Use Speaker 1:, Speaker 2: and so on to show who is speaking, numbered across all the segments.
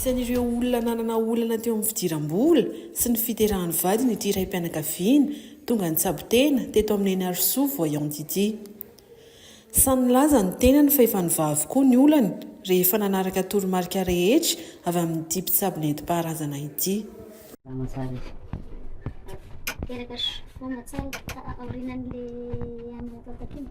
Speaker 1: Isan'ireo olona nanana olana teo amin'ny fidiram-bola sy ny fiterahan'ny vadiny ity raim-pianakaviana tonga nitsabo-tena teto amin'ny Henarisoa Voyant ity. Samy nilaza ny tenany fa efa nivaha avokoa ny olany rehefa nanaraka toromarika rehetra avy amin'ity mpitsabo nentim-paharazana ity. Salama tsara izy. Teraka sy vonona tsara ka aorianan'ilay an'Anatantaka
Speaker 2: iny.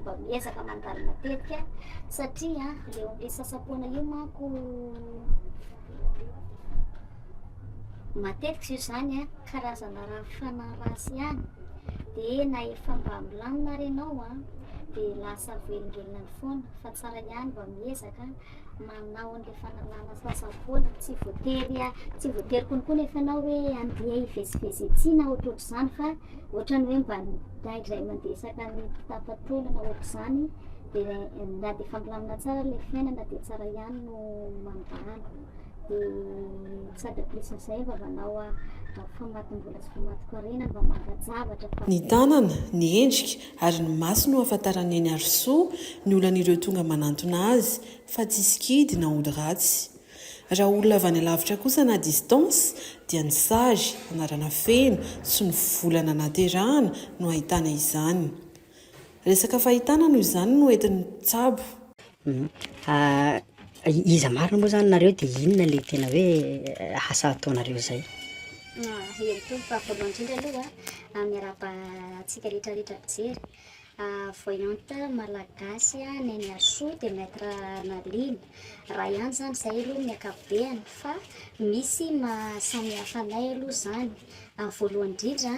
Speaker 3: mba miezaka mandalo matetika satria eo amin'ny sasam-poana io manko matetika io izany a karazana raha fanaratsy ihany dia na efa mba milamina ary ianao a dia lasa velongelona ny foana fa tsara ihany mba miezaka manao an'ilay fanalana sasa-bola, tsy voatery a, tsy voatery konko nefa ianao hoe andeha hivezivezy ety na ohatrohatr'izany fa ohatrany hoe mba midray indray mandeha isaka ny mpitapa-taona na ohatr'izany dia na dia efa milamina tsara ilay fiainana dia tsara ihany no mandany dia sady plus an'izay mba manao a- famatim-bola sy famatim-karena mba manka-javatra fa Ny tanana,
Speaker 1: ny endrika, Ary ny maso no ahafantaran'i Eny Harisoa ny olan'ireo tonga manantona azy, fa tsy sikidy na ody ratsy. Raha olona avy any alavitra kosa na distance dia ny sazy, anarana feno, sy ny volana naterahana no ahitana izany. Resaka fahitana noho izany no entin'ny mpitsabo.
Speaker 2: Iza marina moa zany nareo de inona le tena hoe asa ataonareo zay?
Speaker 3: Herimpolo fa voalohany indrindra aloha a, miarahaba antsika retraretra mpijery, voyante malagasy Neniarisoa de maitre Nalina, raha ihany zany zahay aloha amin'ny ankapobeny fa misy maha samihafa anay aloha zany. Amin'ny voalohany indrindra,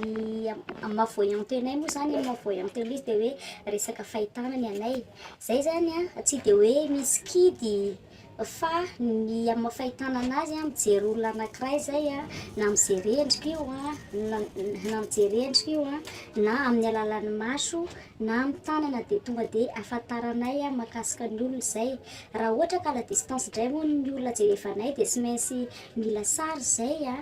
Speaker 3: ny amin'ny maha voyante anay moa zany, ny maha voyante anay dia hoe resaka fahitana ny anay. Izay zany an, tsy dia hoe misy kidy fa ny amin'ny maha fahitana anazy an, mijery olona anakiray zay an, na mijery endrika io an, na na mijery endrika io an, na amin'ny alalan'ny maso, na amin'ny tanana dia tonga dia ahafantaranay mahakasika ny olona izay. Raha ohatra ka à la distance indray hono ny olona jerevanay dia tsy maintsy mila sary izay an,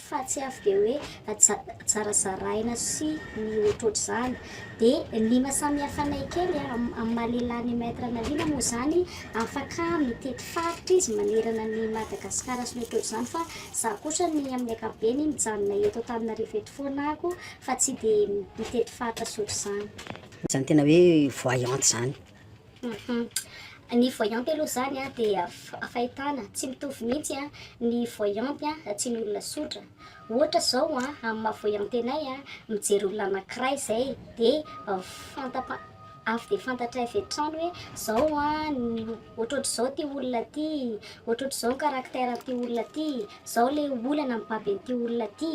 Speaker 3: fa tsy avy dia hoe zarazaraina sy ny ohatrohatr'izany. Dia ny lima samihafanay kely amin'ny maha lehilahy ny Maître Analina moa izany afaka mitety faritra izy manerana an'i Madagasikara sy ny ohatrohatr'izany fa izaho kosa ny amin'ny ankapobeny mijanona eto Antananarivo eto foana ako fa tsy dia mitety faritra sy ohatr'izany. Izany tena
Speaker 2: hoe voyante izany.
Speaker 3: Ny voyante aloha izany an dia fahitana tsy mitovy mihitsy an ny voyante sy ny olona tsotra, ohatra izao an amin'ny maha voyante anay an, mijery olona anakiray izay dia fantapa- avy dia fantatray avy hatrany hoe izao an ny ohatrohatr'izao ity olona ity, ohatrohatr'izao ny caractère an'ity olona ity, izao ilay olana mibaby an'ity olona ity.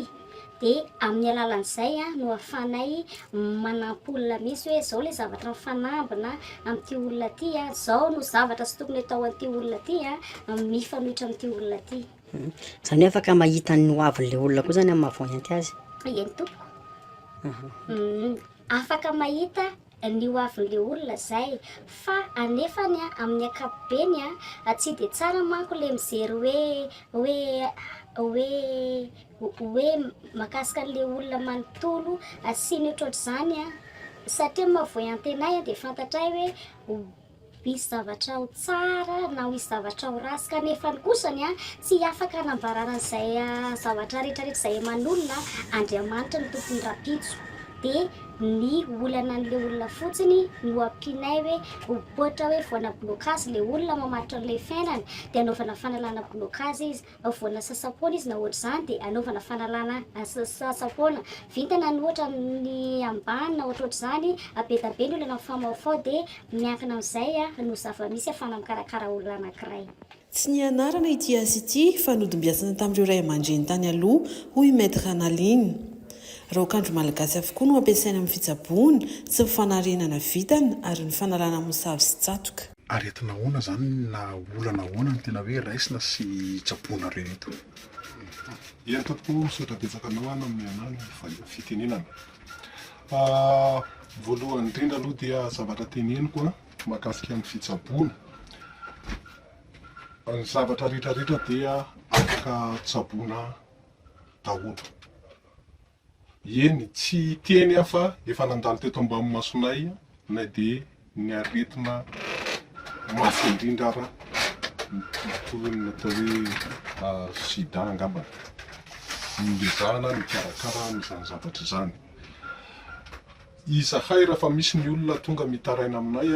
Speaker 3: Dia amin'ny alalan'izay no ahafahanay manampy olona mihitsy hoe izao ilay zavatra mifanambina amin'ity olona ity, izao no zavatra tsy tokony hatao an'ity olona ity, mifanohitra amin'ity olona ity. Izany hoe afaka
Speaker 2: mahita ny ho avin'ilay olona koa izany amin'ny maha-voyante azy? Eny tompoko.
Speaker 3: Afaka mahita ny ho avin'le olona zay, fa anefany an amin'ny ankapobeny an tsy de tsara manko le mijery hoe hoe hoe hoe makasika an'le olona manontolo sy ny otrotr'zany an, satria moa vao iantenaina dia fantatray hoe Hisy zavatra ho tsara na ho hisy zavatra ho ratsy kanefa ny kosany a, tsy afaka hanambarana an'izay zavatra rehetra rehetra izay aman'olona Andriamanitra ny tompony rahampitso dia ny olana an'ilay olona fotsiny no ampianay hoe ohatra hoe vao hanablocage ilay olona mamaritra an'ilay fiainany dia anaovana fanalana blocage izy Voana sasam-poana izy na ohatr'izany dia anaovana fanalana sasam-poana. Vintana ny ohatra ny ambany na ohatrohatr'izany, be da be ny olana mifaomaofao dia miankina amin'izay no zava-misy ahafahana mikarakara olona anankiray. Tsy nianarana
Speaker 1: ity asa ity fa nodimbiasana tamin'ireo ray aman-dreny tany aloha, hoy Maître Ranaline. Raokandro malagasy avokoa no ampiasaina amin'ny fitsaboana sy ny fanarenana vintana ary ny fanalana mosavy sy tsatoka. Aretina ahoana
Speaker 4: izany na olana ahoana no tena hoe raisina sy tsaboinareo eto?
Speaker 5: Eny tompoko, misaotra betsaka anao an amin'ny anarana valiha fitenenana. Voalohany indrindra aloha dia zavatra teneniko mahakasika ny fitsaboana, ny zavatra rehetra rehetra dia afaka tsaboina daholo. Eny, tsy hiteny aho fa efa nandalo teto am-bamimmasonay na dia ny aretina mafy indrindra ara, toy ny atao hoe sida angamba, no ezahana mikarakara an'izany zavatra izany. Izahay, rahefa misy ny olona tonga mitaraina aminay,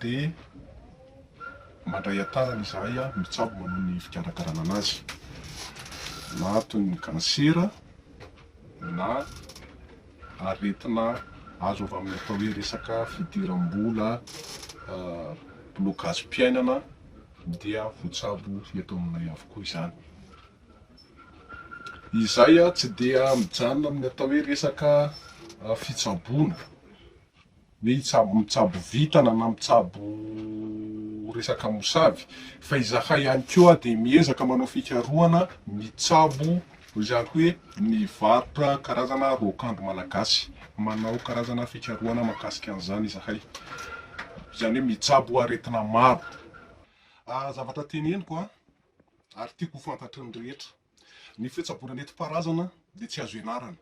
Speaker 5: dia mandray an-tanana izahay mitsabo manao ny fikarakarana an'azy, na toy ny kansera na aretina azo avy amin'ny atao hoe resaka fidiram-bola, blokazim-piainana dia voatsabo eto aminay avokoa izany. Izay tsy dia mijanona amin'ny atao hoe resaka fitsaboana. Hoe hitsabo mitsabo vintana na mitsabo resaka mosavy fa izahay ihany koa dia miezaka manao fikarohana mitsabo izany hoe mivarotra karazana raokandro malagasy. Manao karazana fikarohana mahakasika an'izany izahay. Izany hoe mitsabo aretina maro. Zavatra teneniko an, ary tiako ho fantatry ny rehetra, ny fitsaboana nentim-paharazana dia tsy azo ianarana.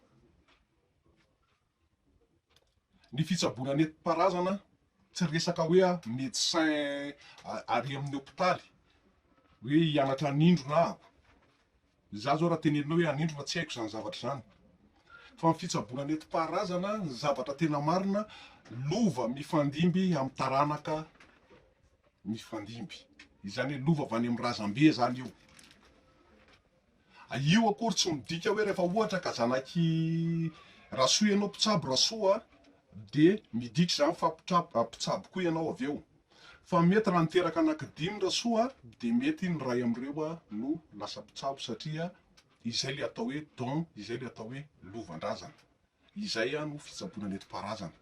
Speaker 5: Ny fitsaboana nentim-paharazana tsy resaka hoe médecin ary amin'ny hopitaly hoe hianatra hanindrona ahako, izaho izao raha teneninao hoe hanindrona tsy haiko izany zavatra izany fa ny fitsaboana nentim-paharazana ny zavatra tena marina lova mifandimby amin'ny taranaka mifandimby, izany hoe lova avy any amin'ny razambe izany io. Io akory tsy midika hoe rehefa ohatra ka zanak'i Rasoa ianao mpitsabo Rasoa a, dia midika izany fa mpitsabo koa ianao avy eo. Fa mety raha niteraka anankidimy Rasoa dia mety ny iray amin'ireo no lasa mpitsabo satria izay ilay atao hoe don, izay ilay atao hoe lovan-drazana. Izay no fitsaboana nentim-paharazana.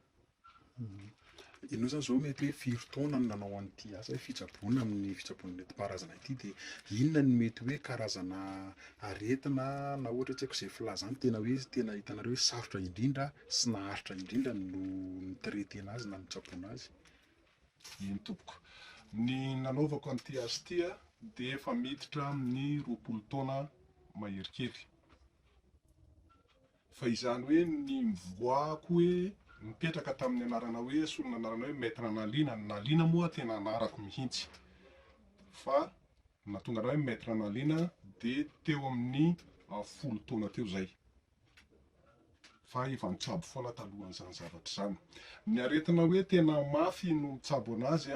Speaker 4: Ianao izany izao mety hoe firy taona no nanao an'ity asa hoe fitsaboana amin'ny fitsaboana nentim-paharazana ity dia inona no mety hoe karazana aretina na ohatra hoe tsy haiko izay filaza any tena hoe tena hitanareo hoe sarotra indrindra sy naharitra indrindra no ni-traiter-na azy na nitsaboana azy? Eny
Speaker 5: tompoko, ny nanaovako an'ity asa ity a dia efa miditra amin'ny roapolo taona mahery kely. Fa izany hoe ny mivoahako hoe nipetraka tamin'ny anarana hoe solona anarana hoe Maître Analiana, ny Naliana moa tena anarako mihitsy fa nahatonga anah hoe Maître Analiana dia teo amin'ny folo taona teo izay fa efa nitsabo foana talohan'izany zavatra izany. Ny aretina hoe tena mafy no mitsabo anazy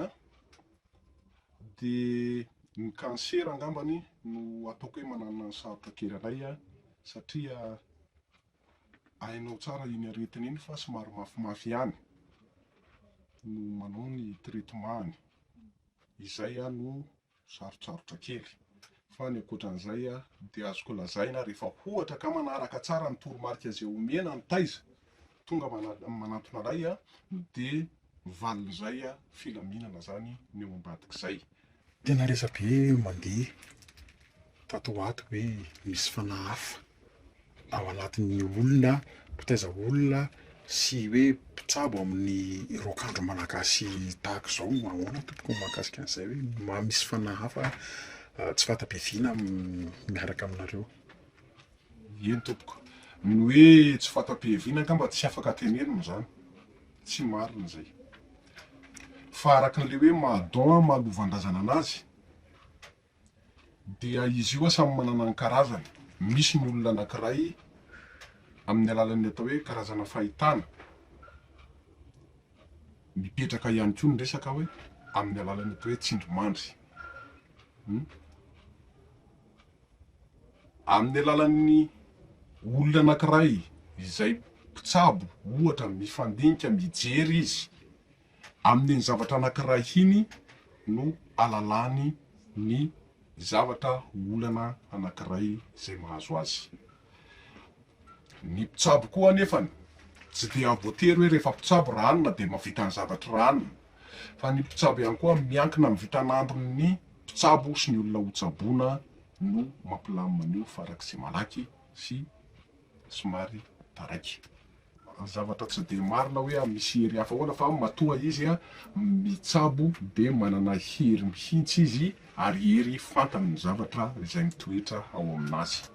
Speaker 5: Dia ny kansera angambany no ataoko hoe manana ny sarotra kely anay satria hainao tsara iny aretina iny fa somary mafimafy ihany no manao ny traitement-ny. Izay no sarotsarotra kely. Fa ny ankoatran'izay dia azoko lazaina rehefa ohatra ka manaraka tsara ny toromarika izay omena ny taiza tonga manantona anay dia valin'izay filaminana zany ny eo ambadik'izay. Tena
Speaker 4: resabe mandeha tato ho ato hoe misy fanahy hafa ao anatin'ny olona mpitaiza olona sy hoe mpitsabo amin'ny raokandro malagasy tahaka izao, ahoana tompoko ny mahakasika an'izay hoe mba misy fanahy hafa tsy fanta-piaviana miaraka aminareo?
Speaker 5: Eny tompoko. Ny hoe tsy fanta-pihevina angamba tsy afaka tenenina izany. Tsy marina izay. Fa araka an'ilay hoe maha don an maha lovandrazana anazy dia izy io an samy manana ny karazany. Misy ny olona anankiray amin'ny alalan'ny atao hoe karazana fahitana mipetraka ihany koa ny resaka hoe amin'ny alalan'ny atao hoe tsindrimandry. amin'ny alalan'ny olona anankiray izay mpitsabo ohatra mifandinika mijery izy amin'iny zavatra anankiray iny no alalany ny zavatra olana anankiray izay mahazo azy. Ny mpitsabo koa anefany tsy dia voatery hoe rehefa mpitsabo ra hanina dia mahavita ny zavatry ra hanina fa ny mpitsabo ihany koa miankina amin'ny vitan'andron'ny mpitsabo sy ny olona ho tsaboina no mampilamina an'io farak'izay malaky sy somary taraiky. ny zavatra tsy dia marina hoe a misy hery hafa ahoana fa matoa izy a mitsabo dia manana hery mihitsy izy ary hery fantany ny zavatra izay mitoetra ao aminazy.